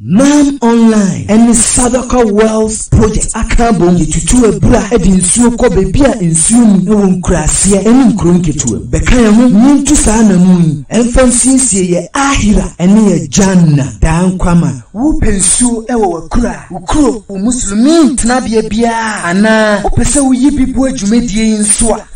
Nam Online ne Sadaka Wells Project aka abom de tutu abura de nsuo kɔ baabi a nsuo nni wɔ nkuraaseɛ ne nkuro nketewa mu. Bɛka yɛn ho na yɛntu saa anammɔn yi mfa nsiesie yɛn Aahira ne yɛn Jannah daa nkwa ma. Wopɛ nsuo wɔ w'akuraa, wo kuro, wo Muslimiin tenabea biara anaa wopɛ sɛ woyi bi boa dwumadie yi nso a,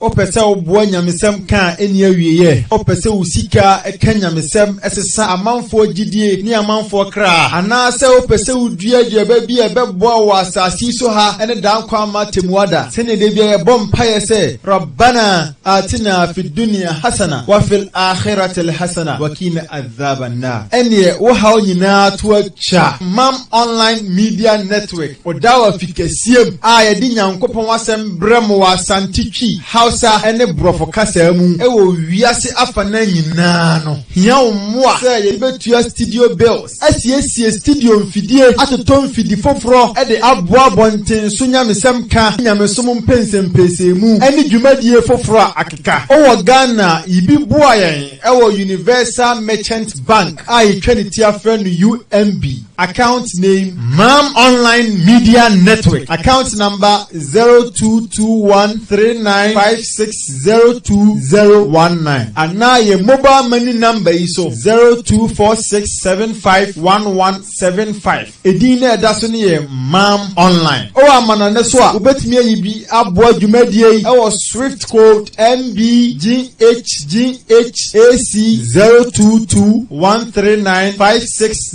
Wopɛ sɛ woboa nyamesɛm ka a ɛnni awieɛ? Wopɛ sɛ wo sika ka nyamesɛm, ɛsesa amanfoɔ gyidie ne amanfoɔ kra? Anaasɛ wopɛ sɛ wodua aduaba bi a ɛbɛboa wɔ asase yi so ha ne daa nkwa ama atemmuada, sɛdeɛ da biara yɛbɔ mpaeɛ sɛ, Rabbana aatina fiddunia hasana wafil aakhiratili hasana wakiina adhaabannaar? Ɛnneɛ wo haw nyinaa to atwa. Mam Online Media Network. Ɔda wɔ afikɛseɛ mu a yɛde Nyankopɔn asɛm brɛ mo wɔ Asante Twi, Hausa ne Borɔfo kasaa mu wɔ wiase afanan nyinaa no, hia wo mmoa sɛ yɛde bɛtua studio bills, asiesie studio mfidie, atotɔ mfidi foforɔ de aboa abɔnten so nyamesɛm ka ne nyamesom mpɛnsɛmpɛsɛmu ne dwumadie foforɔ a akeka. O wɔ Ghana a, yibi boa yɛn wɔ Universal Merchant Bank a yɛtwa ne ti afrɛ no UMB. Account name Mam Online Media Network Account number 022139560219 anaa yɛ mobile money number yi so 0246751175 edin na ɛda so no yɛ Mam Online ɔwɔ amanɔne so a wobɛtumi ayi bi aboa dwumadie yi ɛwɔ Swift code MBGHGHAC 02213956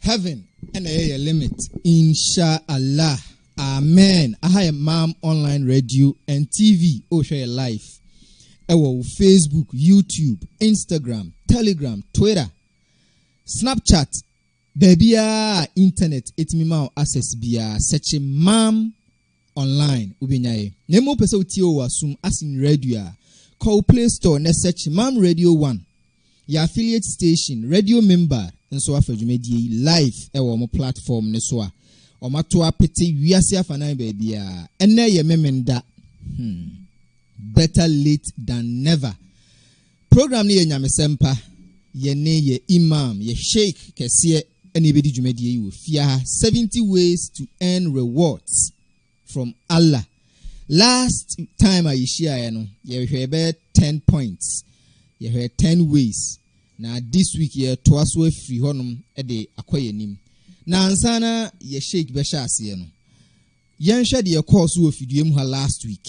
Heaven na ɛyɛ yɛ limit. Insha Allah Amen aha yɛ Mam online radio and TV o hwɛ yɛ life ɛwɔ wo Facebook YouTube Instagram Telegram Twitter Snapchat baabiara internet ɛtumi ma wo access biara sɛkye Mam online wobɛnya yɛ na mmom wopɛ sɛ wotie wɔ w'asom ase no radio a, kɔ wo play store na sɛkye mam radio one, yɛ affiliate station, radio mimbar nso afa dwumadie yi live wɔ wɔn platform no so a wɔato apete wiase afanan baabiara, ɛnnɛ yɛ Memenda, hmm, better late than never, Program no yɛ nyamesɛm pa. Yɛne yɛ Imam, yɛ Sheikh kɛseɛ na yɛbɛdi dwumadie yi wɔ fie ha, 70 ways to earn rewards from Allah. Last time a yɛhyiaeɛ no, yɛhwɛɛ bɛyɛ 10 points, yɛhwɛɛ 10 ways, na this week yɛretoa so afiri hɔnom de akɔ yɛn anim. Na ansa na yɛ Sheikh bɛhyɛ aseɛ no, yɛnhwɛ deɛ ɛkɔɔ so wɔ fidua mu ha last week,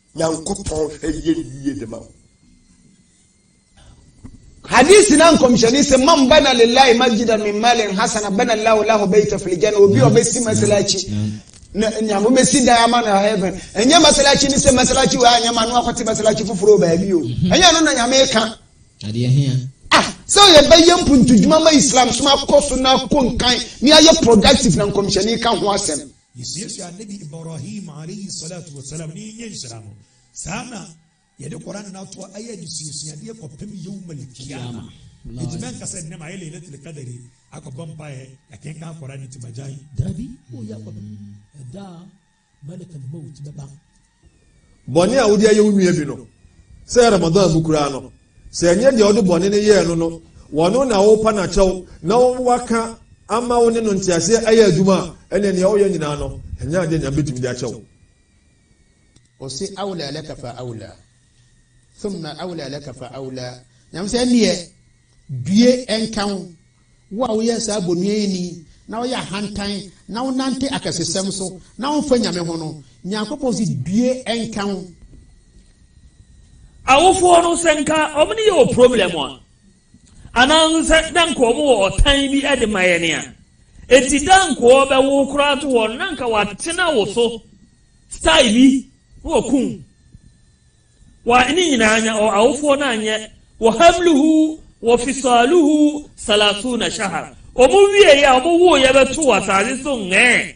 Nyankopɔn hwɛ yɛn yie de ma wo. Hadisi na nkɔmhyɛni se man bana lillahi masjidan min malin hasana bana Allahu lahu baita fil janna obi a ɔbɛsi masalachi na nyame bɛsi dan ama no heaven ɛnyɛ masalachi ne sɛ masalachi wɔ anyɛ ma no akɔte masalachi foforɔ baabi o mhm. ɛnyɛ no na nyame ka ah sɛ yɛbɛyɛ mpuntudwuma ma islam so akɔ so na akɔ nkan ne ayɛ productive na nkɔmhyɛni ka ho asɛm Yesuasua Annabi Ibrahim alaihi swalatu wa salam ne yɛnyɛ nhyira no. Saa na Yɛde Qur'aan no ato hɔ ayɛ adesuasuadeɛ kɔpem Yawmal Qiyamah. Enti mɛnka sɛ nnɛ mayɛ Laylatul Qadri akɔbɔ mpaeɛ, yɛkenkan Qur'aan nti magyae. Daabi, woyɛ akɔpem ɛda a Malakal Mawt bɛba Bɔne a wode ayɛ wo nua bi no, sɛ Ramadan mu koraa no, sɛ ɛnyɛ deɛ wode bɔne no yɛɛ no no, wɔno na worepa no akyɛw na wɔaka ama wo ne no nteaseɛ ayɛ adwuma a, ɛnneɛ nea woyɛ nyinaa no, ɛnyɛ adeɛ Nyame bɛtumi de akyɛ wo. Ɔse, Awla laka fa awla, thumma awla laka fa awla, Nyame sɛ, ɛnneɛ due nka wo Wo a woyɛ saa bonuani na woyɛ ahantan na wonante akɛsesɛm so na womfa Nyame ho no, Nyankopɔn se due nka wo. Awofoɔ no sɛ nka wɔn ne yɛ wɔ problem a, anaa nso sɛ na nka wɔn wɔ ɔtan bi de ma yɛn a, enti da nka wɔbɛwo wo koraa to hɔ no na nka wɔatena wo so style bi na wɔakum wo. Wa ne nyinaa nya ɔ awofoɔ no anyɛ wɔ hamluhu wɔ fisaaluhu salaasuuna shahar ɔmo wieeɛ a ɔmo wooeɛ bɛtoo asaase so ngɛɛ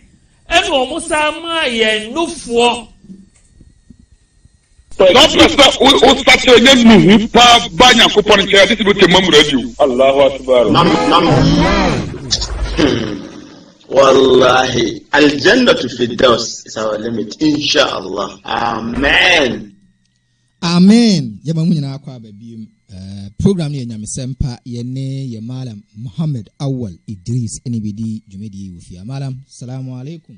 ɛna ɔmo san maa yɛn nofoɔ Saa berɛ sɛ wosakyera nya nuhu paa ba Nyankopɔn nkyɛn a this is the Mamura Allahu Akbar. Nam nam nam. Hmm. Wallahi Aljannatu Firdaus is our limit inshallah Amen. Amen yɛma mu nyinaa kɔ aba biem eh, program no yɛ nyamesɛm pa yɛne yɛ malam Muhammad Awal Idris ɛne bɛdi dwumadie wɔ fie malam salamu alaikum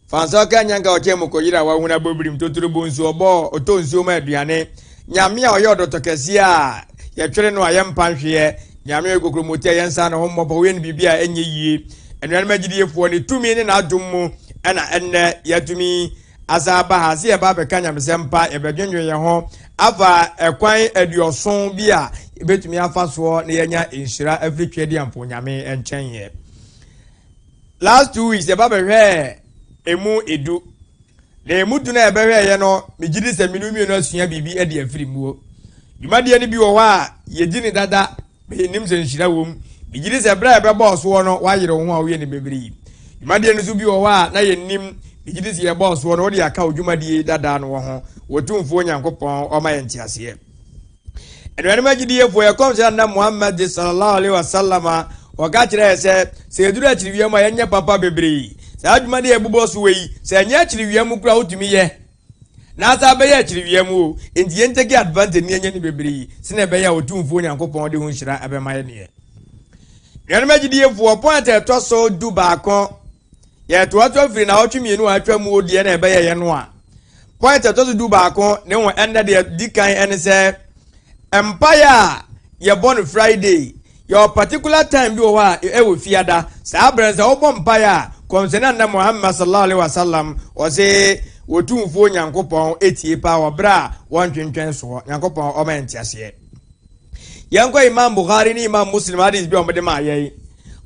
Fansa ɔkaa nyanka ɔkyɛn mu kɔyeraa wahunu abɔbirim totorobɔ nsuo ɔbɔɔ ɔtɔ nsuo ma aduane Nyame a ɔyɛ ɔdɔtɔ kɛseɛ a yɛtwere no a yɛmpa nhweɛ Nyame a ɔyɛ kokromoti a yɛnsa ne ho mmɔ pɔ ɔyɛ no biribi a ɛnyɛ yie Anuanom agyidiefoɔ ne tumi ne n'adom mu ɛna ɛnnɛ yɛatumi asan aba ha sɛ yɛba abɛka nyamesɛmpa yɛbɛdwendwen yɛn ho afa ɛkwan aduɔson bi a yɛbɛtumi afa soɔ na yɛanya nhyira afiri Tweadiampɔn Nyame nkyɛn yɛ Last two weeks yɛba bɛhwɛɛ emu edu. Na emu du no a yɛbɛhwɛɛ yɛ no, megye di sɛ me ne wo mmienu asua biribi de afiri muo. Dwumadie no bi wɔ hɔ a yɛdi no dada, menim sɛ nhyira wom. Megye di sɛ berɛ a yɛbɛbɔɔ soɔ no woayere wo ho a woyɛ nneɛma bebree yi. Dwumadie no nso bi wɔ hɔ a na yɛnnim, megye di sɛ yɛbɔɔ soɔ no wode aka wo dwumadie dada no wɔ ho. Otumfoɔ Nyankopɔn ɔma yɛn nteaseɛ. Anuanom agyidiefoɔ, yɛ kɔmhyɛ anna Muhammad sallallahu alaihi wasallam a wɔka kyerɛɛ sɛ, sɛ yɛduru akyiri wia mu a yɛnyɛ papa bebree. Saa adwuma no yɛ bobɔ so wɔ yi, sɛ ɛnyɛ akyiri wia mu kura wotumi yɛ, na asa abɛyɛ akyiri wia mu o, enti yɛn take advantage ne yɛnyɛ no bebree, sɛnea ɛbɛyɛ a Otumfoɔ Nyankopɔn de ho nhyira bɛma yɛn deɛ. Anuanom agyidiefoɔ, point a ɛtɔ so du baako, Yɛtoatoa firi naawɔtwe mmienu a atwa mu deɛ na ɛbɛyɛeɛ no a, point ɛtɔ so du baako ne ho ɛnna deɛ di kan ɛne sɛ mpaeɛ a yɛbɔ no Friday yɛwɔ particular time bi wɔ hɔ a ɛwɔ fiada saa berɛ no sɛ wobɔ mpaeɛ a kɔmhyɛne anna Muhammad sallallahu alaihi wasallam ɔse wɔtumfoɔ Nyankopɔn etie paa wɔ berɛ a wɔntwentwɛn soɔ Nyankopɔn ɔma yɛn nteaseɛ yɛnkɔ imam bukhari ne imam muslim hadis bi a wɔde maa yɛn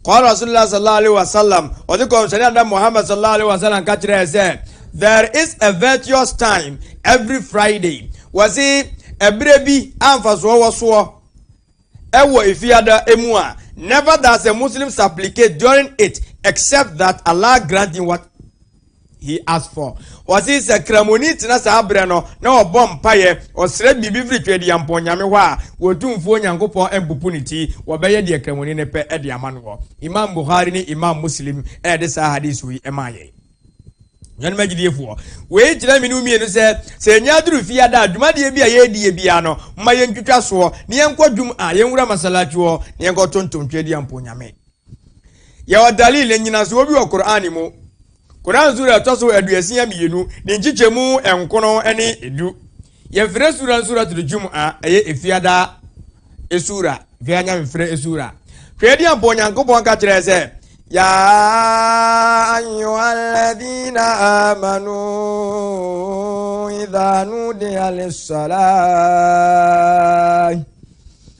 kɔɔ rasulillah sallallahu alaihi wasallam ɔde kɔmhyɛne ada muhammad sallallahu alaihi wasallam ka kyerɛɛ sɛ there is a virtuous time every friday wɔse ɛberɛ bi amfasoɔ wɔ soɔ ɛwɔ efiada emu a never does a muslim supplicate during it except that allah grant him what he asked for. Ɔse sɛ Kramoni tena saa berɛ no na ɔbɔ mpaeɛ, ɔsrɛ biribi firi Twedeampɔn Nyame hɔ a, Otumfoɔ Nyankopɔn mpopo ne ti, wɔbɛyɛ deɛ Kramoni no pɛ de ama noɔ. Imam Bukhari ne Imam Muslim de saa Hadiso yi maa yɛn. Nuanom agyidiefoɔ, wei kyerɛ me ne wo mmienu sɛ, sɛ yɛnya aduru fie ada a, dwumadeɛ bi a yɛredi yɛ biara no, momma yɛntwitwa soɔ, na yɛnkɔ Jum'ah, yɛnwura Masalachi hɔ, na yɛnkɔ tontom Twedeampɔn Nyame. Yɛwɔ dalil, nnyinasoɔ bi wɔ Qur'an mu. Qur'an sura a ɛtɔ so aduasia mmienu, ne nkyekyɛmu nkono ne edu. Yɛfrɛ sura no Suratul Jum'a, ɛyɛ efiada esura, fia nyamefrɛ esura. Hwɛ ɛdeɛ ampa Onyankopɔn ka kyerɛ sɛ, Ya ayyuhalladhina amanu idha nudiya lissalah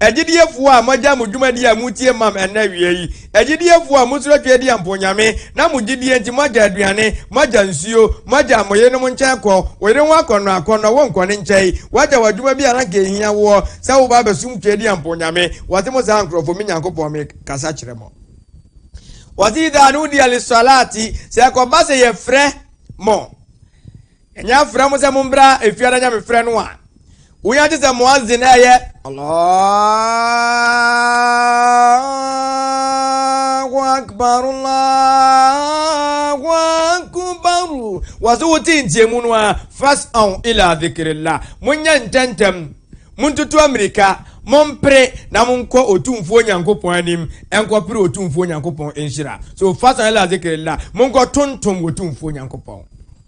Agyidiefo a moagyae mo dwumadi a mutie mam ɛnnɛ awia yi, agyidiefo a musuro Tweadia a mpoonyame, na mo gyidie nti moagya aduane, moagya nsuo, moagya mo yerenom nkyɛn kɔ, wo yere ho akɔnnɔ akɔnnɔ, wonkɔ ne nkyɛn, woagya w'adwuma bi a na anka ɛhia woɔ sɛ woba abɛsom Tweadia a mpoonyame, wɔse mo saa nkurɔfoɔ, me Nyankopɔn, mekasa kyerɛ mo. Wɔse idha nudiya liswalaati, sɛ ɛkɔba sɛ yɛfrɛ mo. Ɛnyɛ afrɛ mo sɛ mombra efiada nyamefrɛ no a wonya gye sɛ muazzin ɛyɛ Allahu akbar Allahu akbar wɔso wote ntiamu no a fas'aw ila dhikrillah monyɛ ntɛntɛm montutu amirika mompere na monkɔ otumfuo nyankopɔn anim ɛnkɔpere otumfuo nyankopɔn nhyira so fas'aw ila dhikrillah monkɔ tontom otumfuo nyankopɔn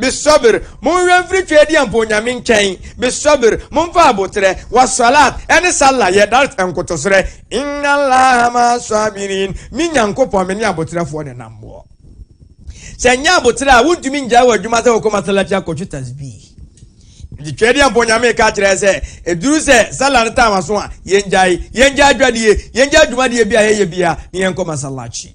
Mesɔber, monhwɛ mfiri Twedeɛ mpo Onyame nkyɛn, Mesɔber, monfa aboterɛ, wɔ Swalaat ɛne Sallah yɛ, Dart nkotoserɛ, Inna Allaha ma'a swabiriin, Me Nyankopɔn me ne aboterɛfoɔ na ɛnam boɔ. Sɛ nyɛ aboterɛ a, wontumi ngyae wo adwuma sɛ wokɔ Masalachi akɔtwi Tasbih. Nti Twedeɛ mpo Onyame reka akyerɛ yɛ sɛ, ɛduru sɛ Sallah no taama so a, yɛngyae, yɛngyae adwadie, yɛngyae dwumadie bi a yɛyɛ biara, na yɛnkɔ Masalachi.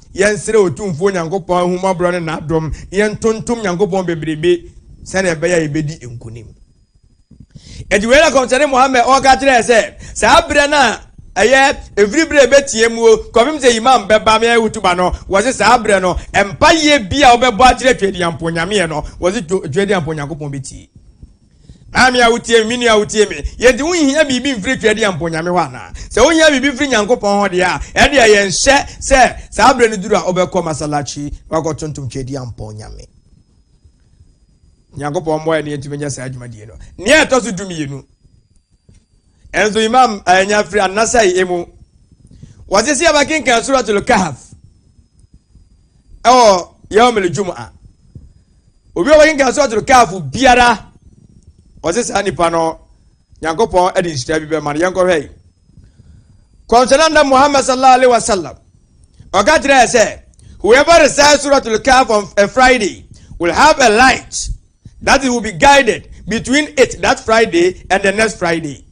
Yɛnsrɛ Otumfoɔ Nyankopɔn ahummɔborɔ ne n'adom na yɛntontom Nyankopɔn bebrebe sɛdeɛ ɛbɛyɛ a yɛbɛdi nkonim. Ɛti wei na kɔmhyɛne Muhammad ɔka kyerɛɛ sɛ saa berɛ no a ɛyɛ ɛfiri berɛ ɛbɛtia muo kɔpem sɛ imam bɛba meyɛ hutuba no wɔse saa berɛ no mpayɛ bi a wobɛbɔ akyerɛ Tweediampɔ nyameɛ no wɔse Tweediampɔ Nyankopɔn bɛtie Maame a wotie me, me nua a wotie me, yɛnti wonhia biribi mfiri Twɛdeɛ mpo Nyame hɔ anaa? Sɛ wohia biribi firi Nyankopɔn hɔ deɛ a, ɛndeɛ yɛnhyɛ sɛ saa berɛ no duru a wobɛkɔ Masalachi na wakɔ tontom Twɛdeɛ mpo Nyame. Nyankopɔn mmoa yɛn na yɛntumi nyɛ saa dwumadie no. Nea ɛtɔ so dumienu. Ɛnso Imam anya firi An-Nasai emu. Wɔse sɛ yɛbɛkenkan Suratul Kahf ɛwɔ Yawmul Jum'a. Obi a ɔbɛkenkan Suratul Kahf biara, wɔse saa nipa no Nyankopɔn ɛde nhyira bi bɛma no. Yɛnkɔhwɛ yi. Kɔmhyɛnɛ na Muhammad sallallahu alaihi wasallam ɔka kyerɛ sɛ whoever recites Suratul Kahf on a Friday will have a light that he will be guided between it that Friday and the next Friday.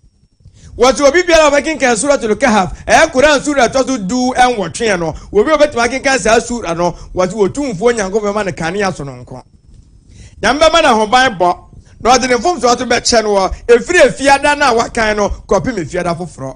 Wɔsi obi biara ɔbɛkenkan Suratul Kahf ɛyɛ Koran sura ɛtɔ so du ɛnwɔtwe no obi ɔbɛtumi akenkan saa sura no wɔsi wɔtumfoɔ nyanko bɛma no kanea sononko. Nyame bɛma no ahoban bɔ na ɔde ne mfomsoɔ so bɛkyɛ no wɔ efiri efiada no a wakan no kɔpem efiada foforɔ.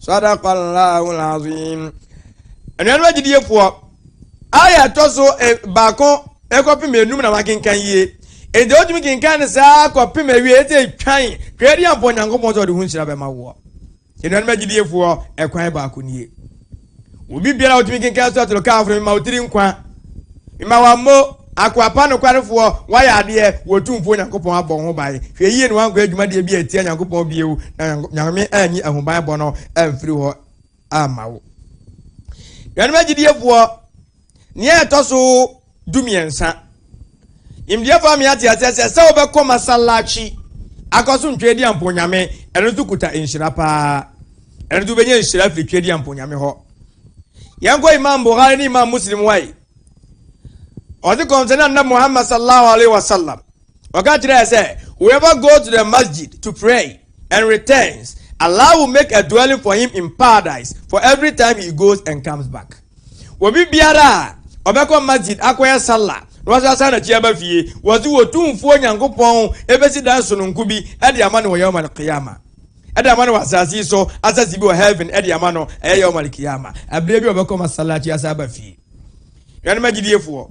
Sadaqallaahu al-azeem. Anuanom agyidiefoɔ, aya ɛtɔ so e, baako ɛkɔpem enum na wakenkan yie. Enti wotumi kenkan no saa kɔpem awie ɛsɛ ɛtwan twɛdi ampɔ Nyankopɔn sɛ ɔde ho nhyira bɛma woɔ. Anuanom agyidiefoɔ, ɛkwan baako nie. Obi biara a otumi kenkan Suratul Kahf no, mema wo tiri nkwa. Mema wo ammo, akoa pa nokwarefoɔ, woayɛ adeɛ, wo Otumfoɔ Nyankopɔn abɔ wo ho ban. Hwɛ yie na woankɔyɛ dwumadie bi atia Nyankopɔn bio, na Nyame anyi ahobanbɔ no amfiri hɔ amma wo. Nuanom agyidiefoɔ! Nea ɛtɔ so dumiɛnsa, Nimdeɛfoɔ ame ate aseɛ sɛ sɛ wobɛkɔ masallachi akɔ so ntwedeɛ mponyame, ɛno nso kuta nhyira paa. Ɛno nso wobɛnya nhyira firi twedeɛ mponyame hɔ. Yɛnkɔ Imam Bukhari ne Imam Muslim wae. Ɔse kɔmsɛne anna Muhammad sallallahu alaihi wasallam Ɔka kyerɛɛ sɛ, Whoever goes to the masjid to pray and returns, Allah will make a dwelling for him in paradise for every time he goes and comes back. Obi biara a ɔbɛkɔ masjid akɔyɛ salla na wasan asan n'akyi aba fie, wɔse Wɔtumfoɔ Nyankopɔn bɛsi dan sononko bi de ama no wɔ Yawm al-Qiyamah, de ama no wɔ asase yi so, asase bi wɔ heaven de ama no, ɛyɛ Yawm al-Qiyamah, ɛberɛ bi a ɔbɛkɔ masalla akyi asan aba fie. Nuanom agyidiefoɔ.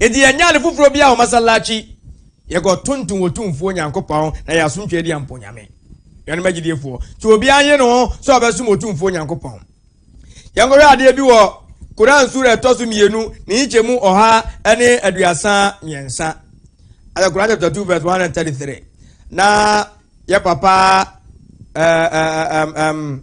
Enti yɛnyaa no foforɔ biaa wɔ masallaci, yɛkɔ tontom wɔ Tumfoɔ Nyankopɔn na yɛasom Twɛdi Amponyame. Nuanom agyidiefoɔ, sɛ obiaa nye ne ho sɛ ɔbɛsom Otumfoɔ Nyankopɔn. Yɛnkɔhwɛ adeɛ bi wɔ Qur'aan Suura a ɛtɔ so mmienu ne nkyɛmu ɔha ne aduasa mmiɛnsa, Al Qur'aan chapter 2 verse 133, na yɛ papa ɛɛm ɛɛm ɛɛm.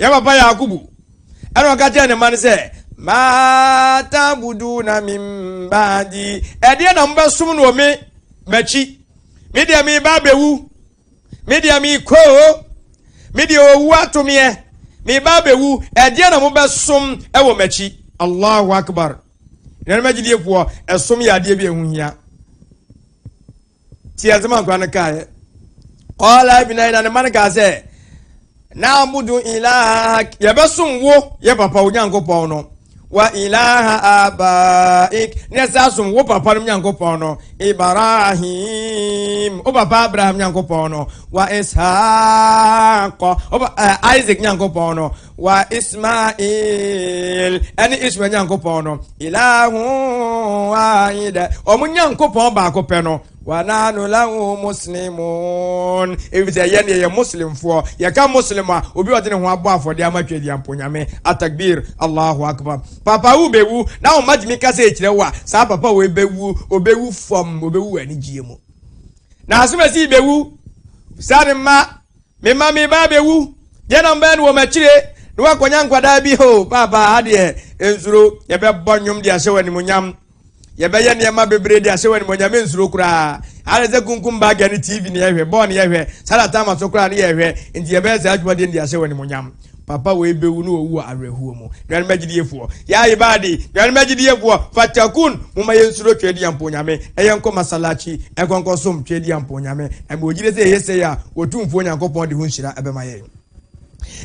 Yɛn papa Yakubu ɛna ɔka kyerɛ ne mma no sɛ maatabudu na mi mbaadi ɛdeɛ na mobɛsom no wɔ me m'akyi me deɛ me ba abɛwu me deɛ me koo me deɛ owu atomeɛ me ba abɛwu ɛdeɛ na mobɛsom ɛwɔ m'akyi allahu akbar nnuanom agyidiefoɔ ɛsom yɛ adeɛ bi ɛho hia Ti asɛm a nkora no kaeɛ. Kɔɔla ibina yi na ne ma no kaa sɛ, na abudu ilaha yɛbɛsom wo yɛ papa wo nyankopɔn no wa ilaha abaik na ɛsɛ asom wo papa no nyankopɔn no ibrahim wo papa abraham nyankopɔn no wa ishaq isaac nyankopɔn no Wa Ismail ɛne Ismail Nyankopɔn no, ilahu wahida, wɔn Nyankopɔn baako pɛ no, wa nahnu lahu muslimun, efisɛ yɛn yɛyɛ Muslimfoɔ. Yɛka Muslim a, obi a ɔde ne ho abɔ afɔdeɛ ama Twɛdeɛ Mponyame. Atakbir, Allahu Akbar. Papa wobɛwu, na wo mma tumi ka sɛ ɛkyerɛ wo a, saa papa wei bɛwu, ɔbɛwu fam, ɔbɛwu wɔ anigyeɛ mu. Na asomasi bɛwu, saa ne mma. Mema me ba abɛwu, deɛ na mbɛyɛ no wɔ m'akyire na wakɔnya nkwadaa bi? Ho, paapa, ha deɛ nsuro. Yɛbɛbɔ nnwom de ahyɛ wo animonyam. Yɛbɛyɛ nneɛma bebree de ahyɛ wo animonyam. Mensuro koraa. Ayɛ sɛ kunkum bagger ne TV ne yɛhwɛ, bɔɔl ne yɛhwɛ, saa na Tama so koraa ne yɛhwɛ. Nti yɛbɛyɛ saa adwuma deɛ de ahyɛ wo animonyam. Papa wei bɛwu na wawu wɔ awerɛhoɔ mu. Nuanom agyidiefoɔ, Yaye Baadi, Nuanom agyidiefoɔ, Fatakun, momma yɛnsuro Tweadiampɔn Nyame na yɛnkɔ Masallachi nkɔ nkɔsom Tweadiampɔn Nyame. Na mewɔ gyidie sɛ yɛyɛ sei a, Otumfoɔ Nyankopɔn de ho nhyira bɛma yɛn.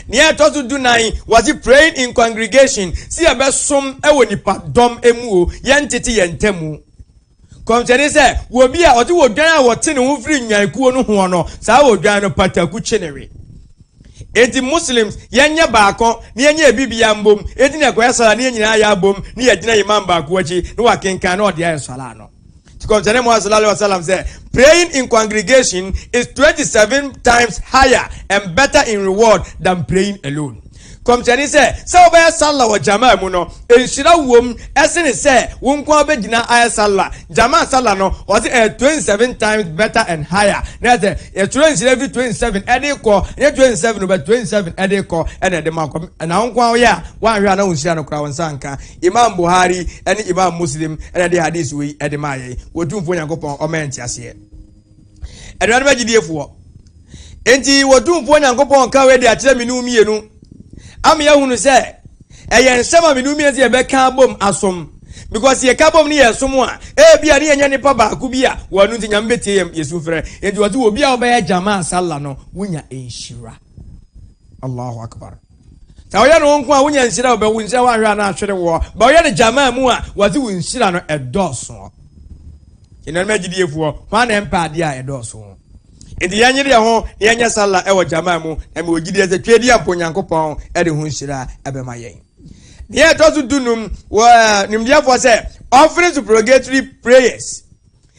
Nea ɛtɔ so du nan, wɔse praying in congregation, se yɛbɛsom wɔ nipadɔm mu o, yɛntete yɛn ntamu. Nkɔmhyɛ ne sɛ, wɔ obi a ɔte odwan a wɔte ne ho firi Nyan kuo no hoɔ no, saa odwan no pataku kye ne we. Enti Muslims, yɛnyɛ baako na yɛnyɛ yɛn biribiara mbom, enti na yɛkɔyɛ Salah na yɛn nyinaa yɛabom na yɛagyina Imam baako akyi na wakenkan na ɔde ayɛ Salah no. Nti Nkɔmhyɛne Muhammad sallallahu alaihi wasallam sɛ, Praying in congregation is 27 times higher and better in reward than praying alone. Nkɔmhyɛni sɛ, sɛ wobɛyɛ Sallah wɔ Jamaa mu no, nhyira wom sene sɛ wo nko ara wobɛgyina ayɛ Sallah. Jamaa Sallah no, ɔse ɛyɛ twenty seven times better and higher. Na ɛsɛ, yɛtwerɛ nhyira firi twenty seven ɛde rekɔ, ɛnyɛ twenty seven o, but twenty seven ɛde rekɔ ɛna ɛde ma kɔ. Na wo nko ara woyɛ a, woanhwɛ a na wo nhyira no koraa wo nsa anka. Imaam Buhari ne Imaam Muslim na ɛde Hadith wei ɛde maa yɛn. Otumfoɔ Nyankopɔn ɔma yɛn nteaseɛ. Anuanom agyidiefoɔ, enti wɔtumfoɔ Nyankopɔn ka wei de akyerɛ me no mmienu ama yɛahunu sɛ ɛyɛ nsɛm a me no mmienu sɛ yɛbɛka abom asom because yɛka bom ne yɛsom a ebi a ne yɛnyɛ nipa baako bi a wɔn ano nti nyame bɛtie yɛn yɛsu frɛ enti wɔte obi a wɔbɛyɛ gyama asala no wonya nhyira Allahu Akbar Sɛ ɔyɛ no wo nko a wonya nhyira o, bɛwo nhyira woanhwɛ a na ahwere woɔ. Bɛ ɔyɛ no gyamaa mu a, wɔse wo nhyira no ɛdɔɔsoɔ. Anuanom agyidiefoɔ, hwan na ɛmpɛ adeɛ a ɛdɔɔso? Enti yɛnyere yɛn ho na yɛnyɛ Salah wɔ gyamaa mu, na mewɔ gyidie sɛ Tweedi Ampɔn Nyankopɔn de ho nhyira bɛma yɛn. Deɛ ɛtɔ so du-num, wɔ nimdeɛfoɔ sɛ offering supplicatory prayers.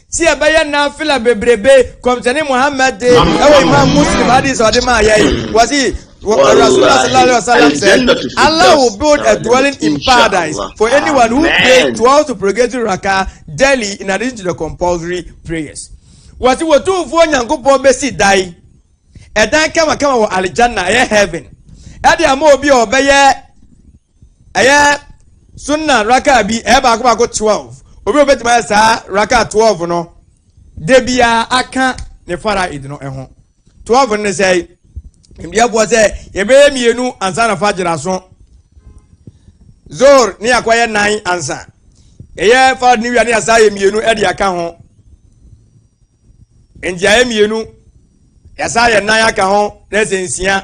Si yɛ bɛyɛ nafila bebrebe kɔmsɛni muhammed de ɛwɔ imam muslim hadith ɔde maa yɛ yi wɔsi rasulillah sallallahu alaihi wasallam said allah will build a dwelling in paradise for anyone who pray twelve supplicatory raka daily in addition to the compulsory prayers wɔsi wɔtumfoɔ nyankopɔn bɛsi dan ɛdan kamakama wɔ alijanna ɛyɛ heaven ɛde ama obi a ɔbɛyɛ ɛyɛ sunna raka bi ɛyɛ baako baako twelve obi a obetuma yɛ saa raka twelve no de bia aka ne fara edi no ɛho twelve no ne sɛ mbiafoɔ sɛ yɛbɛyɛ mmienu ansa na fa gyina so zor ne akɔ yɛ nan ansa ɛyɛ fara ne wia ne asa yɛ mmienu ɛde aka ho. nti ayɛ mmienu yɛsa yɛ nan aka ho na ɛsɛ nsia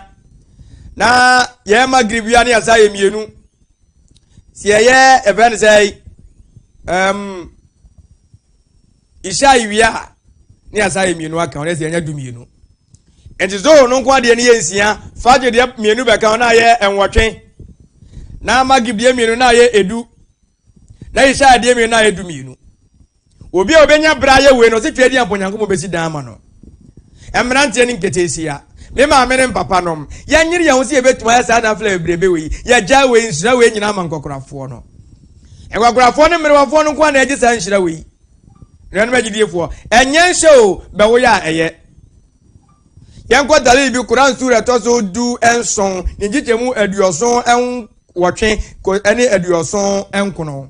na yɛyɛ magrib wia ne yɛsa yɛ mmienu sɛ yɛyɛ ɛfɛ no sɛ ɛm ihyɛ iwia ne yɛsa yɛ mmienu aka ho na ɛsɛ yɛnya du mmienu nti zoho no nko adeɛ no yɛ nsia fagye deɛ mmienu bɛka ho na ayɛ nwɔtwe na magrib deɛ mmienu na ayɛ edu na ihyɛ adeɛ mmienu na ayɛ du mmienu Obi a obenya bere ayɛ wei no, ɔsɛ Tweadi ampa Onyankopɔn besi dan ama no. Mmeranteɛ ne nketeesia, me maame ne mpapanom, yɛnyere yɛn ho sɛ yɛbɛtumi ayɛ saa nafla bebrebe wei. Yɛagyae wei, nhyira wei nyinaa ma nkwakorafoɔ no. Nkwakorafoɔ ne mmerewafoɔ no nko ara na ɛgye saa nhyira wei. Nuanom agyidiefoɔ, ɛnyɛ nhyɛ o, bɛwoyɛ a ɛyɛ. Yɛnkɔ dalil bi Quran sura ɛtɔ so du nson ne nkyekyɛmu aduɔson nwɔtwe ne aduɔson nkono.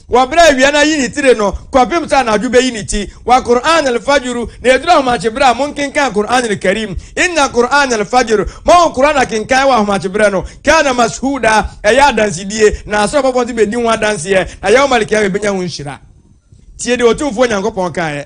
Wɔ bere a awia no ayi ne tire no kɔpem sɛ anadwo beyi ne ti, wa Qur'aan al-Fajru, na eduru ahomakye bere a, monkenkan Qur'aan al-Kareem, Inna Qur'aan al-Fajr, ma wɔn Qur'aan akenkan wɔ ahomakye bere no, Kaana Mashhuuda, ɛyɛ adansedie, na Asoro abɔfoɔ nso bedi ho adanseɛ, na Yawm al-Qiyama ebenya ho nhyira. Tie deɛ Otumfoɔ Nyankopɔn kaeɛ.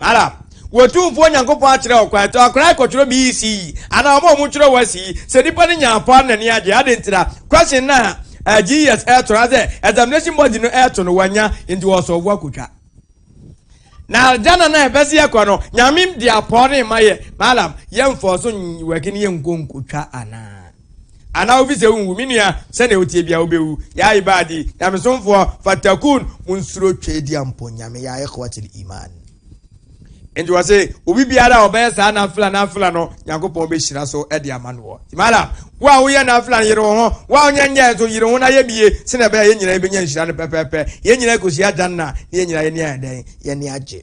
Ara, Otumfoɔ Nyankopɔn akyerɛ wo kwan, to akora rekɔtwerɛ BC anaa wɔn a wɔtwerɛ wɔn asi yi, sɛ nnipa no nya ampɔa no n'ani agye, adɛn nti na question no a eh, GES ɛreto no asɛ examination body no ɛreto no wɔanya nti wɔresɔɔvo akɔtwa. Na aljana no a ɛbɛse yɛkɔ no, Nyame de apɔɔ no ma yɛ, Malam, yɛmfɔɔ so nwɛke no yɛnkɔ nkɔtwa anaa? Anaa wofi sɛ wonwu. Me nua, sɛnea woteɛ biara wobɛwu. Ya ibadi, Nyamesomfoɔ, fattaquun, monsuro Tweaduampɔ Nyame, ya ikhwatal imaan. Enti wɔse, obi biara a ɔbɛyɛ saa nafila, nafila no, Nyankopɔn bɛhyira so de ama noɔ. Nti malam, wo a woyɛ nafila no, yere wo ho, wo a wonyɛ nyɛɛ nso, yere wo ho na yɛ bi ye, sɛnea ɛbɛyɛ a yɛn nyinaa yɛbɛnya nhyira no pɛpɛɛpɛ, yɛn nyinaa akɔhyia Jannah, na yɛn nyinaa yɛn ani ayɛ dɛn? Yɛn ani agye.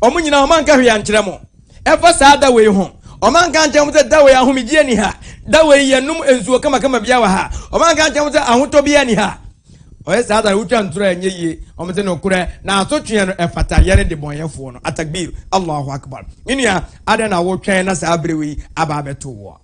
wɔn nyinaa wɔn anka hwee ankyerɛ mo ɛfa saa da wei ho wɔn anka ankyerɛ mo sɛ da wei ahomegyeɛ ni ha da wei yɛnom nsuo kamakama bia wɔ ha wɔn anka ankyerɛ mo sɛ ahotɔ bia ni ha ɔyɛ saa da no wotwa ntorɔ ɛnyɛ yie wɔn sɛ nokorɛ na asotweɛ no ɛfata yɛne de bɔnyɛfoɔ no atakbir allahu akbar me nua adɛn na wotwɛn na saa berɛ wei aba abɛto woɔ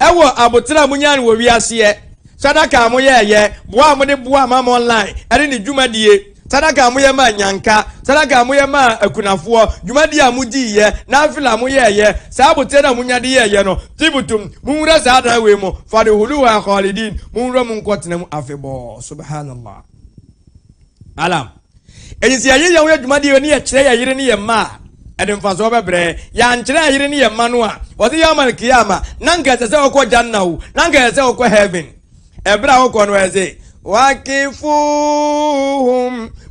Ɛwɔ aboterɛ a monyaa no wɔ wiaseɛ, sadaka a moyɛɛyɛ, boa a mode boaa Mammon Line ɛne ne dwumadie, sadaka a moyɛ maa Nyanka, sadaka a moyɛ maa akunafoɔ, dwumadie a modiiɛ, Nafila a moyɛɛyɛ, saa aboterɛ no a monya de yɛɛyɛ no, Tibtum, monwura saa adan wei mu, Fadhuluha Khalidin, monwura mu nkɔtena mu afebɔɔ. Subhanallah. Alam. Enti sɛ yɛyɛ yɛn ho adwuma de yɛn ani kyerɛ yɛn yere ne yɛn mma a, ɛde mfasoɔ bɛbrɛ. Yɛankyerɛ yɛn yere ne yɛn mma no a, wɔse Yawm al-Qiyamah, na anka ɛsɛ sɛ wɔkɔ Jannah o, na anka ɛsɛ sɛ wɔkɔ Heaven. Ɛberɛ a wɔkɔ no, ɛse, Waqifuhum,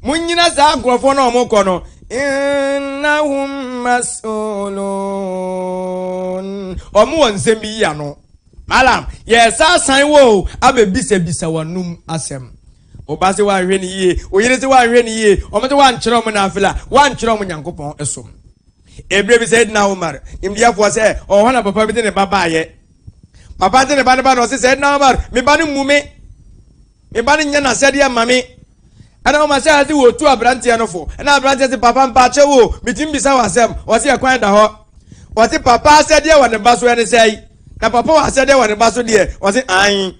monnyina saa nkorɔfoɔ no a wɔkɔ no, Innahum mas'ulun, wɔn wɔ nsɛm bi yi ano. Alam. Yɛsan asan wo o, abɛbisabisa wɔn anom asɛm. Wo ba se woanhwɛ no yie, wo yere se woanhwɛ no yie, wɔn se woankyerɛ wɔn nafila, woankyerɛ wɔn Nyankopɔn som. Ebire bi Sayyidina Umar, nimdeɛfoɔ sɛ, ɔwɔ hɔ na papa bi de ne ba baeɛ. Papa de ne ba no ba na ɔse Sayyidina Umar, me ba no mmu me, me ba no nyɛ n'asɛdeɛ mma me. Ɛna Umar sɛ ase wɔtu aberanteɛ no fo, ɛna aberanteɛ se papa mpaakyɛ wo, metumi bisa wɔ asɛm, ɔse ɛkwan da hɔ. Ɔse papa asɛdeɛ wɔ ne ba so ɛne sɛe, na papa wɔ asɛdeɛ wɔ ne ba so deɛ, ɔse aane.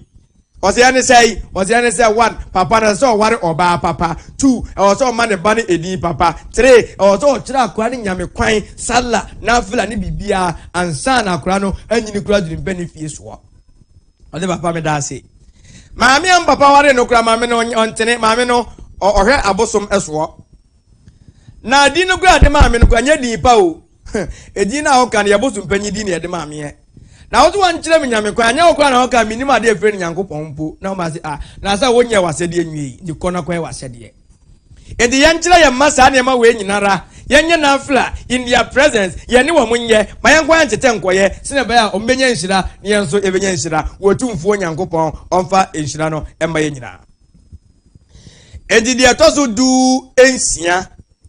Ɔseɛ ne sɛn? Ɔseɛ ne sɛ, one, papa no ɛsɛ sɛ ɔware ɔbaa papa, two, ɛwɔ sɛ ɔma ne ba no edin papa, three, ɛwɔ sɛ ɔkyerɛ akora no Nyame kwan, Sallah, Nafila ne biribiara ansa na akora no anyini koraa aduru ne ba no fie soɔ. Ɔde papa meda ase. Maame a papa ware no koraa maame no ɔntene, maame no ɔhwɛ abosom soɔ. Na din no koraa de maame no koraa nyɛ din pa o. Edin no a woka no yɛ bosom panyin din na yɛde maa me ɛ. Na wo so wankyerɛ me Nyame kwan, anyɛ wo koraa na wokaa mennim ade a efrɛ no Nyankopɔn mpo. Na ɔma se, ah, na sɛ wonyɛɛ w'asɛdeɛ nwiei, nti kɔ na kɔyɛ w'asɛdeɛ. Enti yɛnkyerɛ yɛn mma saa nneɛma wei nyinara, yɛnyɛ nafila, in their presence, yɛne wɔn nyɛ, ma yɛnkɔ yɛn tetɛ nkɔyɛ, sɛnea ɛbɛyɛ a wɔn bɛnya nhyira, na yɛn nso yɛbɛnya nhyira, wɔ Otumfoɔ Nyankopɔn ɔmfa nhyira no mma yɛn nyinaa. Enti deɛ ɛtɔ so du nsia,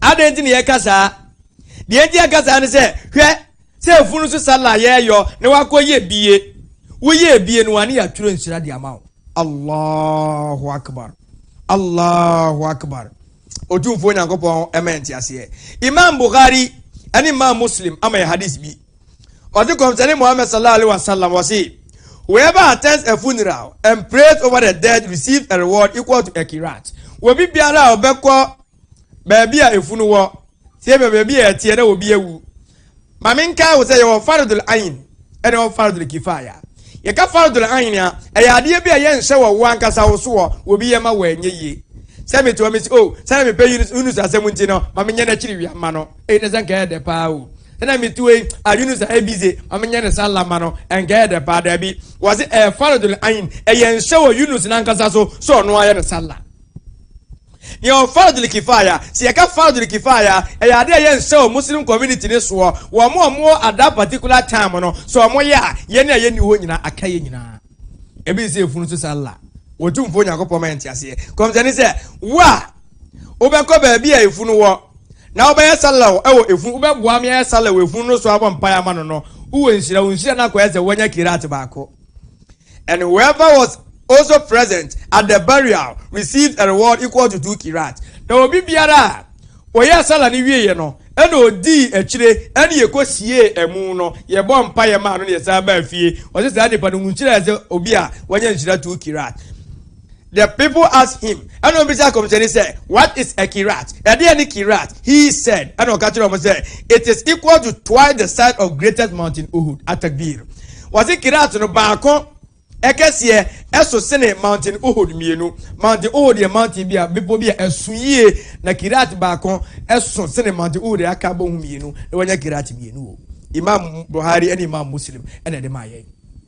Adɛn nti na yɛka saa? Deɛ nti a yɛka saa ne sɛ, hwɛ, sɛ afunu so sallah yɛɛyɔ na wakɔyɛ bie, woyɛɛ bie no a ne yɛatwerɛ nhyira de ama wo. Allahu Akbar, Allahu Akbar, Otumfoɔ Nyankopɔn ma yɛ nteaseɛ. Imaam Bukhari ɛne Imaam Muslim ama yɛ hadith bi. Ɔse Kɔmhyɛne Muhammad sallallahu alaihi wa sallam ɔse, Whoever attends a funeral and prays over the dead receives a reward equal to a Qirat. Obi biara a ɔbɛkɔ baabi a efunu wɔ tie bɛ baabi a ɛteɛ na obi awu ma menkae wo sɛ yɛwɔ faradul ayin ɛna wɔ faradul kifaya yɛka faradul ayin a ɛyɛ adeɛ bi a yɛnhyɛ wɔ wo ankasa wo soɔ obi yɛ ma wɔ ɛnyɛ yie sɛ metoa me si o oh, sɛna mepɛ yunus asɛm nti no ma menyɛ no akyiri wia ma no ɛyi ne sɛ nka ɛyɛ dɛ paa o sɛna metoa yi a yunus a ɛbize ma menyɛ ne sa lama no ɛnka ɛyɛ dɛ paa daabi wɔ se ɛyɛ faradul ayin ɛyɛ nhyɛ wɔ yunus no ankasa so sɛ ɔno ayɛ ne sa la Deɛ wɔ Fardul Kifaya, sɛ yɛka Fardul Kifaya a, ɛyɛ adeɛ a ɛyɛ nsɛ wɔ Muslim community no soɔ, wɔn a wɔn wɔ at that particular time no, sɛ wɔn yɛ a, yɛn a yɛnni hɔ nyinaa aka yɛn nyinaa. Ebi te sɛ efunu so sallah, Otumfoɔ Nyankopɔn ma yɛn te aseɛ. Kɔmhyɛni sɛ, wo a wobɛkɔ baabi a efunu wɔ, na wobɛyɛ sallah wɔ efunu, wobɛboa me ayɛ sallah wɔ efunu no so abɔ mpaeɛ ama no no, wowɔ nhyira, wo nhyira no akɔyɛ sɛ woanya qiraat baako. And whoever was also present at the burial received a reward equal to two kirat. Na obi biara a ɔyɛ asala no wieɛ no, ɛna ɔdii akyire ɛne yɛkɔsiee amu no, yɛbɔɔ mpaeɛ maa no na yɛsan baa fie. Ɔse saa nipa no, nhyira yɛ sɛ obi a wanya nhyira two kirat. The people asked him, ɛna wɔn bisa akɔmhyɛni sɛ, What is a kirat? Ɛdeɛ ne kirat? He said, ɛna ɔka kyerɛ wɔn sɛ, It is equal to twice the size of greatest mountain Uhud. Atakbir. Wɔsi kirat no baako ɛkɛseɛ ɛso sene mountain Uhud mmienu. Mountain Uhud yɛ mountain bi a bepɔ bi a ɛso yie na kirat baako ɛso sene mountain Uhud aka bɔ ho mmienu na wɔnya kirat mmienu o. Imam Buhari ɛne Imam Muslim ɛna ɛde maa yɛn.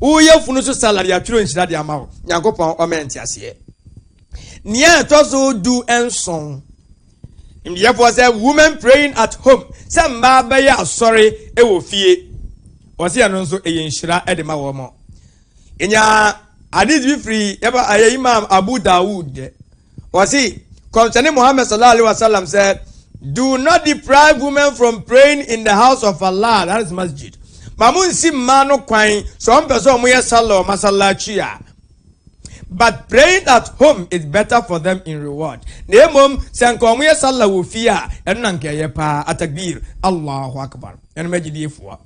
Wo yafunu so salad yɛatwerɛ nhyira de ama wo. Nyankopɔn ɔma yɛn nteaseɛ. Nea ɛtɔ so du nson. Nimdeɛfoɔ sɛ women praying at home sɛ mmaa bɛyɛ asɔre wɔ fie. Wɔsi ɛno nso ɛyɛ nhyira de ma wɔn. Ɛnya hadith bi firi ɛba ɛyɛ Imam Abu Dawud. wɔsi kɔmhyɛni muhammed sallallahu alaihi wa sallam sɛ do not deprive women from praying in the house of allah that is masjid ma mo nsi mmaa no kwan sɛ wɔn pɛ sɛ wɔn yɛ salɔ masalakyi a but praying at home is better for them in reward na emom sɛ nka wɔn yɛ salɔ wɔ fie a ɛno na nka ɛyɛ paa atakbir allahu akbar ɛnum agyidiefoɔ.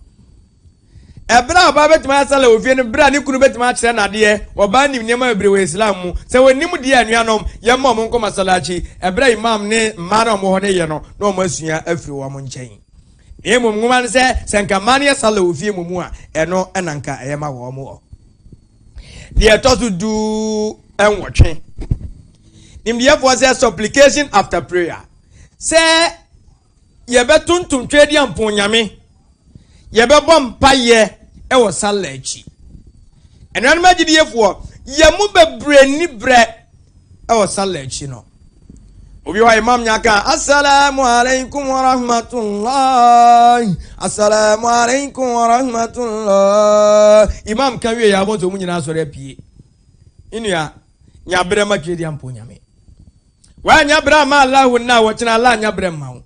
Ɛberɛ a ɔbaa bɛtumi ayɛ sala wɔ fie no berɛ a ne kunu bɛtumi akyerɛ no adeɛ, ɔbaa nim nneɛma bebree wɔ Islam mu, sɛ wɔnnim deɛ a anuanom yɛmma wɔn nkɔ masalachi ɛberɛ a Imam ne mmaa no a wɔwɔ hɔ no reyɛ no na wɔn asua afiri wɔn nkyɛn. Na mmom nwoma no sɛ sɛ nka mmaa no yɛ sala wɔ fie mmom a ɛno na nka ɛyɛ ma wɔn wɔ. Deɛ ɛtɔ so du nwɔtwe. Nimdeɛfoɔ sɛ supplication after prayer sɛ Yɛbɛtontom Tweaduampɔn Nyame. Yɛbɛbɔ mpaeɛ wɔ Sallah akyi. Anuanom agyidiefoɔ, yɛn mu bebree nni berɛ wɔ Sallah akyi no. Obi hɔ a Imam nya ka, Assalamu alaikum wa rahmatullahi, Assalamu alaikum wa rahmatullahi. Imam ka wie yɛ abɔnso mu nyinaa sɔre apue. Nnua, nya berɛ ma Tweaduampɔn Nyame. Woannya berɛ amma Allahu nna a wɔkyena Allah annya berɛ mma wo.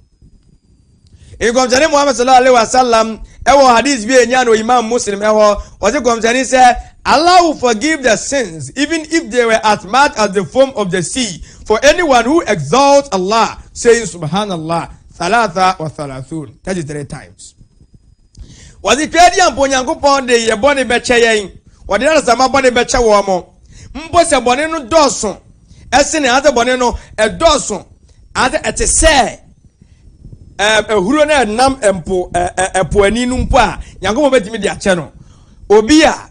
Nkɔmhyɛne Muhammad sallallahu alaihi wasallam ɛwɔ hadith bi a ɛnya no Imam Muslim ɛhɔ ɔse kɔmhyɛne sɛ Allah will forgive the sins even if they were as much as the foam of the sea for anyone who exalts Allah saying subhanallah thalatha wa thalathun 33 times. Wɔdze Twadi a mpo Onyankopɔn de yɛ bɔne bɛkyɛ yɛn, wɔde adesamma bɔne bɛkyɛ wɔn, mpo sɛ bɔne no dɔɔso sene anaasɛ bɔne no dɔɔso anaasɛ ɛte sɛ ahuro no ɛnam mpo ɛpo ani no mpo a, Nyankopɔn bɛtumi de akyɛ no. Obi a.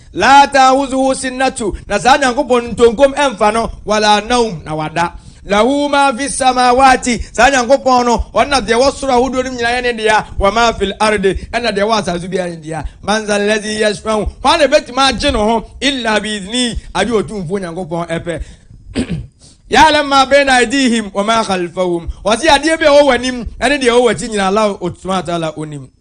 Laa ta'huzuhu sinatu, na saa Nyankopɔn no ntonkom ɛmfa no, wala nawm, na wada. Lahu maa fi samawati, saa Nyankopɔn no, ɔno na deɛ ɛwɔ soro ahodoɔ no mu nyinaa yɛ ne dea, wa maa fil ardi, ɛna deɛ ɛwɔ asaase so biara yɛ ne dea. Man zal lazi yashfa'u, hwan na ɛbɛtumi agye ne ho, illa bi idhnihi, agye Otumfoɔ Nyankopɔn ɛpɛ. Ya'lam ma bayna aydihim wa ma khalfahum, ɔse adeɛ bi a ɛwɔ w'anim ɛne deɛ ɛwɔ w'akyi nyinaa Allah Subhanahu wa Ta'ala onim.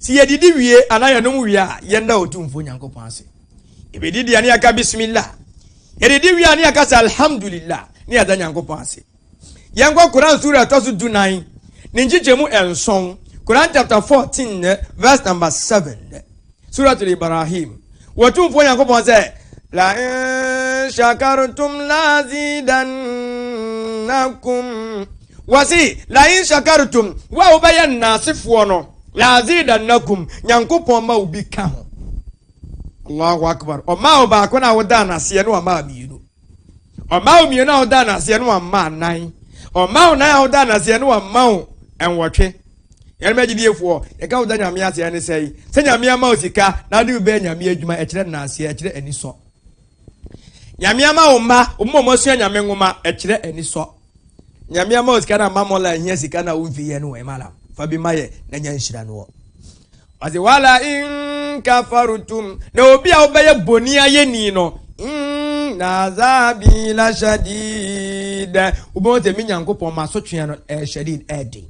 Sɛ yɛdidi wie anaa yɛnom wie a, yɛnda Otumfoɔ Nyankopɔn ase. Yɛbɛdi deɛ ne yɛaka bismillah. Yɛdidi wie a ne yɛaka sɛ alhamdulillah ne yɛda Nyankopɔn ase. Yɛnkɔ Quran sura ɛtɔ so du nan ne nkyekyɛmu nson Quran chapter 14 verse number 7 Suratul Ibrahim Wɔtumfoɔ Nyankopɔn sɛ la in shakartum lazidannakum Wɔse, Lain shakartum, wo a wobɛyɛ nnaasefoɔ no, la'azidannakum, Nyankopɔn ma wo bi ka ho. Allahu Akbar, Ɔmaa wo baako na wodaa no aseɛ na wamaa mmienu. Ɔmaa wo mmienu a wodaa no aseɛ na wamaa nan. Ɔmaa wo nan a wodaa no aseɛ na wama wo nwɔtwe. Yɛnom agyidiefoɔ, yɛka woda Nyame ase ɛne sɛe, sɛ Nyame ama wo sika na wode bi bɛyɛ Nyame adwuma, ɛkyerɛ nnaaseɛ, ɛkyerɛ anisɔ. Nyame ama wo mma, wo mma wɔasua Nyame nwoma, ɛkyerɛ anisɔ. nyame ama sika na ma mola hia sika na womfi yɛ no wɔ malam fa bi ma yɛ na nya nhyira no wɔ ɔse wala in kafarutum na obi a wobɛyɛ bɔni ayɛni no na azabi la shadid wobɛhu sɛ me nyankopɔn masotwea no ɛyɛ shadid ɛden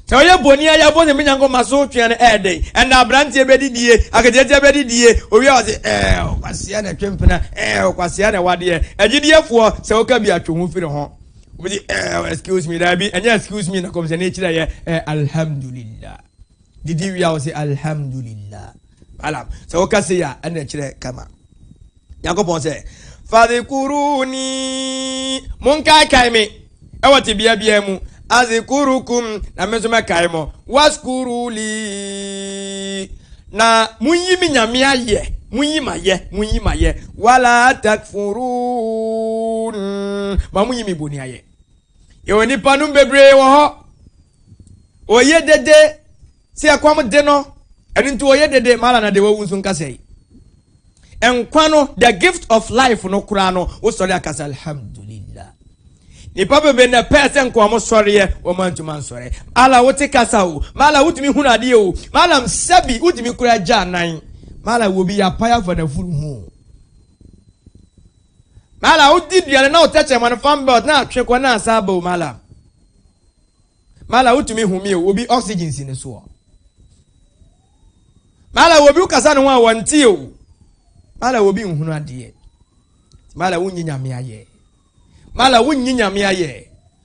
Sɛ ɔyɛ bɔne a yɛabɔ Nyame Nyankopɔn so twea no ɛyɛ dɛn? Ɛnna aberanteɛ bi adidie, aketeatia bi adidie, ɔwie a ɔse, Ɛɛ, ɔkwasea na ɛtwe mpena, ɛɛ, ɔkwasea na ɛwadeɛ. Agyidiefoɔ, sɛ woka bi atwe ho firi ho. Wobɛsi, ɛɛ, excuse me, daabi, ɛnyɛ excuse me na kɔmhyɛni kyerɛeɛ, ɛɛ, alhamdulillah. Didi wie a wo se Alhamdulillah. Alam. Sɛ woka sei a ɛna ɛkyerɛ kama Nyankopɔn sɛ fadhikuruni monkaekae me ɛwɔ tebea biara mu adhikurukum na me nso mɛkae mo waskuruli na monyi me nyame ayɛ monyi mayɛ monyi mayɛ wala takfurun ma monyi me boni ayɛ Yɛwɔ nnipa nom bebree wɔ hɔ. Wɔyɛ dede sɛ ɛkɔm de no. Ɛno nti wɔyɛ dede ma na de wɔwu nso nka sɛe. Nkwa no, the gift of life no koraa no, wosɔre aka sɛ alhamdulillah. Nnipa bebree na pɛɛ sɛ nka wɔn sɔreɛ, wɔn antumi ansɔre. Mala wote kasa o, mala wotumi hunu adeɛ o, mala sɛbi wotumi kura gya nan, mala wɔ bi yɛ apaya fa na furu ho. Mala wo di duane na wo tɛkyɛ mɔne fan belt na atwe kɔ na asa aba o mala mala wo tumi humi o obi oxygen si ne soɔ mala wo bi wo kasa ne ho a wɔn ti o mala wo bi nhunu adeɛ mala wo nyi nyame ayɛ mala wo nyi nyame ayɛ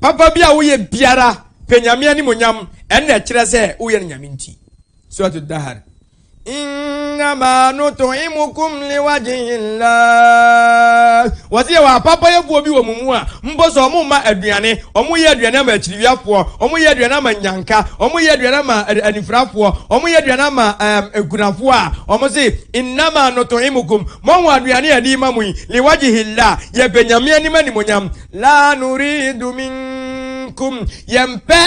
Papa bi a woyɛ biara pɛ nyame animonyam ɛna ɛkyerɛ sɛ woyɛ no nyame nti. Surat Dahar. Innama nut'imukum liwajhillah. Wɔsi yɛ wɔ apapayɛfoɔ bi wɔ mo mu a mpo sɛ wɔn ma aduane, wɔn yɛ aduane ama akyiriwiafoɔ, wɔn yɛ aduane ama nyanka, wɔn yɛ aduane ama anifirafoɔ, wɔn yɛ aduane ama ɛm nkunafoɔ a wɔn se innama nut'imukum Moahu aduane a yɛde rema mo yi, liwajihillah, yɛpɛ Nyame anim animuonyam. Laa nuridu minkum, yɛmpɛ,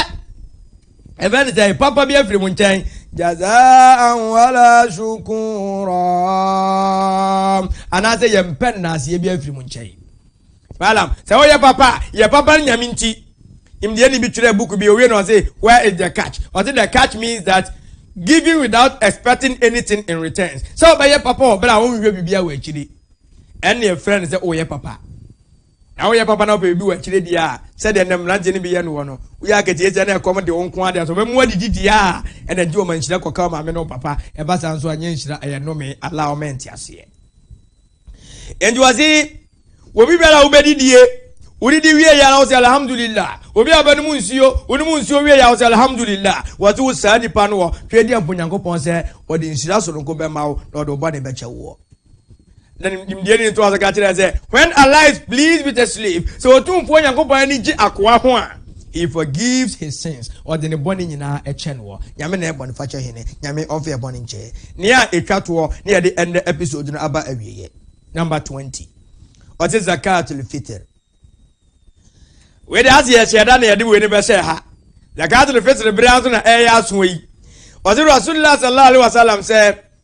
yɛfrɛ no sɛn, papa bi afiri mo nkyɛn. Jazaan wala shukuraa, anaasɛ yɛmpɛ nnaaseɛ bi afiri mo nkyɛn. Balaam, sɛ woyɛ papa a, yɛ papa no nyame nti. Nimdeɛni bi twerɛɛ book bi, owie no ɔse, where is the catch? Ɔse the catch means that giving without expecting anything in return. Sɛ wobɛyɛ papa wɔ berɛ a wonhwehwɛ biribiara wɔ akyiri, ɛne ɛfrɛ no sɛ woyɛ papa. Na woyɛ papa na wopɛ biribi wɔ akyire deɛ a, sɛdeɛ nnɛ mmeranteɛ no bi yɛ no wɔ no, woyɛ akatie sɛ na ɛkɔm de wo nko ara deɛ sɛ wɔbɛmu adidi deɛ a, ɛna gye wɔn nhyira kɔka wo maame ne wo papa, ɛba saa nso a, ɛnyɛ nhyira, ɛyɛ nnome. Allah Ɔma nteaseɛ. nti ɔse obi bɛla wobɛdi die wodidi wie yɛ na wosɛ alhamdulillah obi a bɛnom nsuo wonom nsuo wie yɛ wosɛ alhamdulillah wɔte wo saa nipa no wɔ hwɛ di ampo nyankopɔn sɛ ɔde nhyira soronko bɛma wo na ɔde wo bɔne bɛkyɛ woɔ na nimdeɛ ne ntoa so ka kyerɛ sɛ when Allah is pleased with a slave sɛ ɔtumfoɔ nyankopɔn ani gye akoa ho a He forgives his sins, ɔde ne bɔne nyinaa kyɛ noɔ. Nyame na yɛ bɔnefakyɛ hene, Nyame ɔmfa yɛ bɔne nkyɛ yɛn. Nea ɛtwa toɔ na yɛde ɛnnɛ episode no aba awieɛ. Number 20. Ɔse Zakatul Fitr. Wei de ase yɛhyɛ da na yɛde wei no bɛhyɛ ha. Zakatul Fitr bere nso na ɛyɛ aso yi. Ɔse Rasulullah sallallahu alaihi wasallam sɛ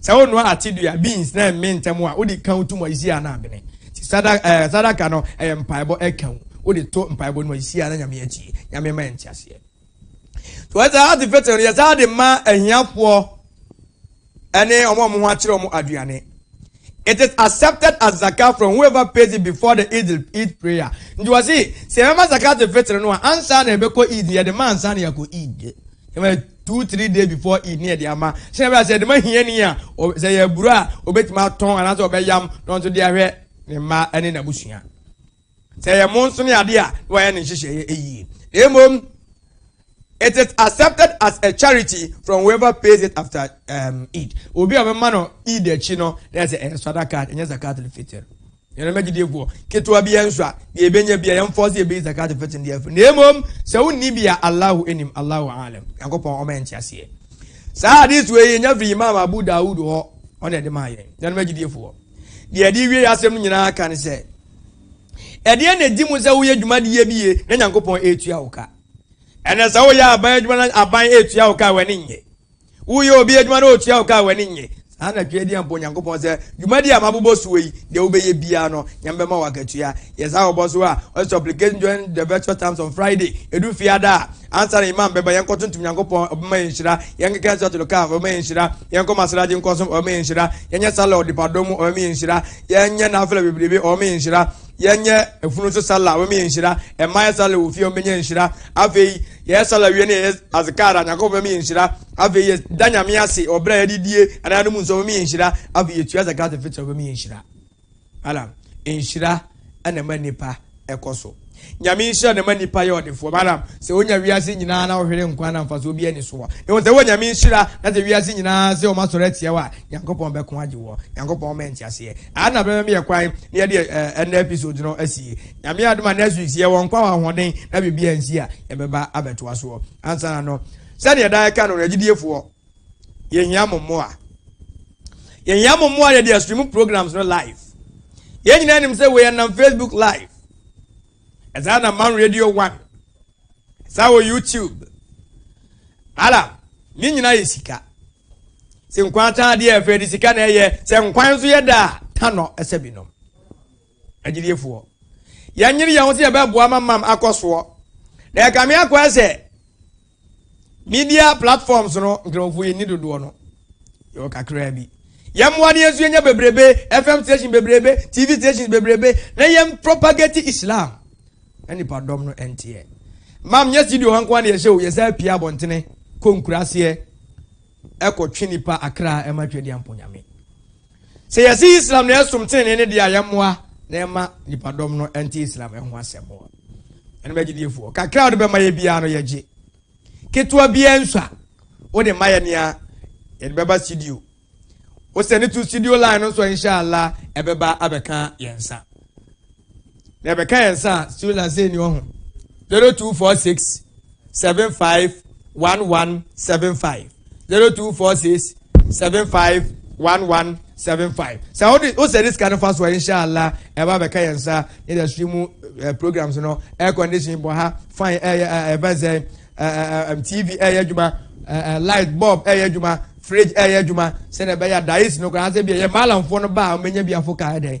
sɛ wonua ate dua beans na ɛmme ntɛm a wode kan to mu ayisi a na abene eh, sadaka no ɛyɛ mpaebɔ ɛka wo wode to mpaebɔ no ayisi a na nyame atie nyame ma ɛnte aseɛ so ɛsɛ ade fɛtɛ no yɛsɛ ade ma ahiafoɔ ɛne ɔmo ɔmo ho akyerɛ ɔmo aduane it is accepted as zakat from whoever pays it before the eid eid prayer nti wɔ se sɛ ɛbɛma zakat fitiri no a ansa na ɛbɛkɔ eid yɛde ma ansa na yɛkɔ eid Ɛma two three days before eid ne yɛde ama. Sɛ ɛbɛyɛ sɛ yɛde ma hiani a, sɛ yɛ aburo a obetumi atɔn anaasɛ ɔbɛyam na ɔnso de ahwɛ ne mma ne n'abusua. Sɛ yɛ mo nso ne ade a, na wɔayɛ ne nhyehyɛeɛ yie. Na mmom, it is accepted as a charity from whoever pays it after um, Eid. Obi a ɔbɛma no Eid akyi no, na yɛ sɛ ɛyɛ sadaka, ɛnyɛ zakat al-fitr. Yɛn nana gyidiefo ketewa biara nso a deɛ ebenya biara yɛn fɔs yɛ bɛyi zakat fɛtin deɛ afiri na emom sɛ wonni bi a Allahu enim Allahu alam Nyankopɔn ɔma yɛn nteaseɛ. Saa hadith wei yɛ nya firi Imam Abu Dawud hɔ ɔna ɛde maa yɛn yɛn nana gyidiefo deɛ ɛde wie asɛm no nyinaa ka ne sɛ ɛdeɛ na edi mu sɛ woyɛ dwumadie bi yie na Nyankopɔn etua wo ka ɛnna sɛ woyɛ aban adwuma na aban etua wo ka wɔ ne nyɛ Woyɛ obi adwuma na otua wo ka a w'ani nnye. Saa na twa din bɔ Onyankopɔn sɛ, Dwumadi a mabobɔ soɔ yi, deɛ wobɛyɛ biara no, Nyame bɛma wo akatua. Yɛ saa wɔ bɔ so a, ɔsɛ supplication during the virtual times on Friday, ɛdu Fiada a, ansa na Imam bɛba, yɛnkɔ tontom Nyankopɔn, Ɔbɛma yɛn nhyira, yɛnkeka Suratul Kahf, Ɔbɛma yɛn nhyira, yɛnkɔ Masalaci nkɔ som, Ɔbɛma yɛn nhyira, yɛnyɛ Sallah ɔdepadɔ mu, Ɔbɛma yɛn nhyira, yɛnyɛ Nafila bebrebe, Ɔbɛma yɛn nhyira, yɛnyɛ afunu so Sallah, Ɔbɛma yɛn nhyira, mmaa yɛ Sallah wɔ fie, wɔbɛnya nhyira, afei, Yɛ sala wie no yɛ azkar a Nyankopɔn bɛma yɛ nhyira, afei yɛ da Nyame ase wɔ berɛ a yɛde die anaa yɛnom nsuo bɛma yɛ nhyira, afei yɛ tua zakat al-fitr bɛma yɛ nhyira. Malam, nhyira na ɛma nipa ɛkɔ so. Nyame nhyira na ɛma nipa yɛ ɔdefoɔ. Malam, sɛ wonya wiase nyinaa na wohwere nkwa na mfasoɔ biara ni soɔ. Ehu sɛ wowɔ Nyame nhyira na sɛ wiase nyinaa sɛ wɔn asɔre atia wo a, Nyankopɔn bɛko agye woɔ. Nyankopɔn ma yɛ nteaseɛ. Ana bɛma me yɛ kwan na yɛde ɛnɛ episode no asie. Nyame yɛ adom a next week sɛ yɛwɔ nkwa wɔ ahoɔden na biribi ansi a yɛbɛba abɛtoa soɔ ansa na no sɛdeɛ daa ɛka no no agyidiefoɔ yɛhia mo mmoa yɛhia mo mmoa yɛde astream programs no live yɛn nyinaa nim sɛ wei ɛnam facebook live ɛsaa na man radio one ɛsaa wɔ youtube alam ne nyinaa yɛ sika sɛ nkwan taa deɛ ɛfɛ de sika na ɛyɛ sɛ nkwan nso yɛ daa tanɔ ɛsɛ binom Agyidiefoɔ, yɛnyere yɛn ho sɛ yɛbɛboa ma mam akɔ soɔ. Na ɛkame akɔɛ sɛ media platforms no nkramofoɔ yɛnni dodoɔ no. Yɛwɔ kakraa bi. Yɛmmoa no yɛnso yɛnya bebrebe, FM station bebrebe, TV stations bebrebe, na yɛn propagate Islam. Na nipa dɔm no ɛnteɛ. Mam nyɛ studio ha nkoa na yɛhyɛ o, yɛsan pie abɔntene, kɔ nkuraaseɛ, kɔ twe nipa akra ma Twadiampɔ Nyame. Sɛ yɛse Islam na ɛsom tenenee no deɛ a yɛmmoa na ɛma nipa dɔm no nte Islam ɛho asɛm mo. Ɛno m'agyidiefoɔ, kakra a wode bɛma yɛ biara no yɛgye. Ketewa biara nsua. Wode ma yɛ nea yɛde bɛba studio. Wo sɛne to studio line no nso a Insha Allah ɛbɛba abɛka yɛn nsa. na ɛbɛka yɛn nsa a still na sɛ ni ɔho zero two four six seven five one one seven five zero two four six seven five one one seven five sɛ ɔde o sɛ de sika no fa so a inshallah ɛba bɛka yɛn nsa ne yɛ sui mu eh, programs no air condition bɔ ha fan ɛyɛ eh, ɛbɛ eh, zɛ tv ɛyɛ adwuma light bulb ɛyɛ adwuma fridge ɛyɛ adwuma sɛnɛ ɛbɛyɛ dice no koraa sɛ bi ɛyɛ maalamfoɔ no ba a wɔn nyɛ bi afɔ kaa ɛdɛ.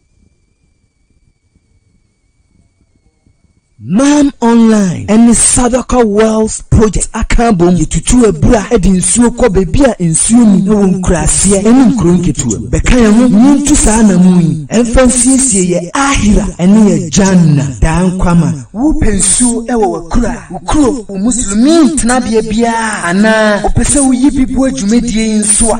Mam Online ne Sadaka Wells Project aka abom de tutu abura de nsuo kɔ baabi a nsuo nni wɔ nkuraaseɛ ne nkuro nketewa mu. Bɛka yɛn ho na yɛntu saa anammɔn yi mfa nsiesie yɛn Aakhira ne yɛn Jannah, daa nkwa ma. Wopɛ nsuo wɔ w'akuraa, wo kuro, wo Muslimiin tenabea biara a, anaa wopɛ sɛ woyi bi boa dwumadie yi nso a,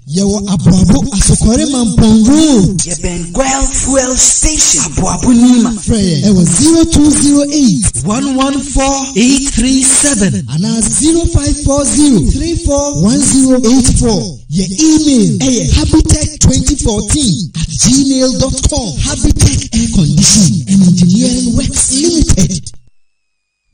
Yɛwɔ Aboabo Asokɔre Mampong Road. Yɛbɛn Gual Fuel Station, Aboabo Nima. Frɛ yɛn ɛwɔ 0208. 114837. Anaa 0540341084. Yɛn email ɛyɛ habitech2014 at gmail dot com. Habitech Air Conditioning and Engineering Works Limited.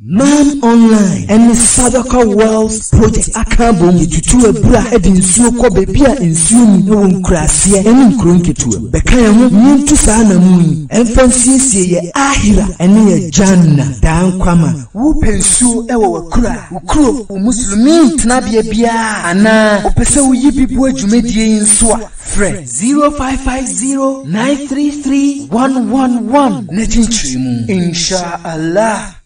Nine Online ne Sadaka Wells Project aka abom de tutu abura de nsuo kɔ baabi a nsuo nni wɔ nkuraaseɛ ne nkuro nketewa mu. Bɛka yɛn ho na yɛntu saa anammɔn yi mfa nsiesie yɛn Aakhira ne yɛn Jannah, daa nkwa ma. Wopɛ nsuo wɔ w'akuraa, wo kuro, wo Muslimiin tenabea biara a, anaa wopɛ sɛ woyi bi boa dwumadie yi nso a, Frɛ 0550933111 na kyenkyere mu, Insha Allah.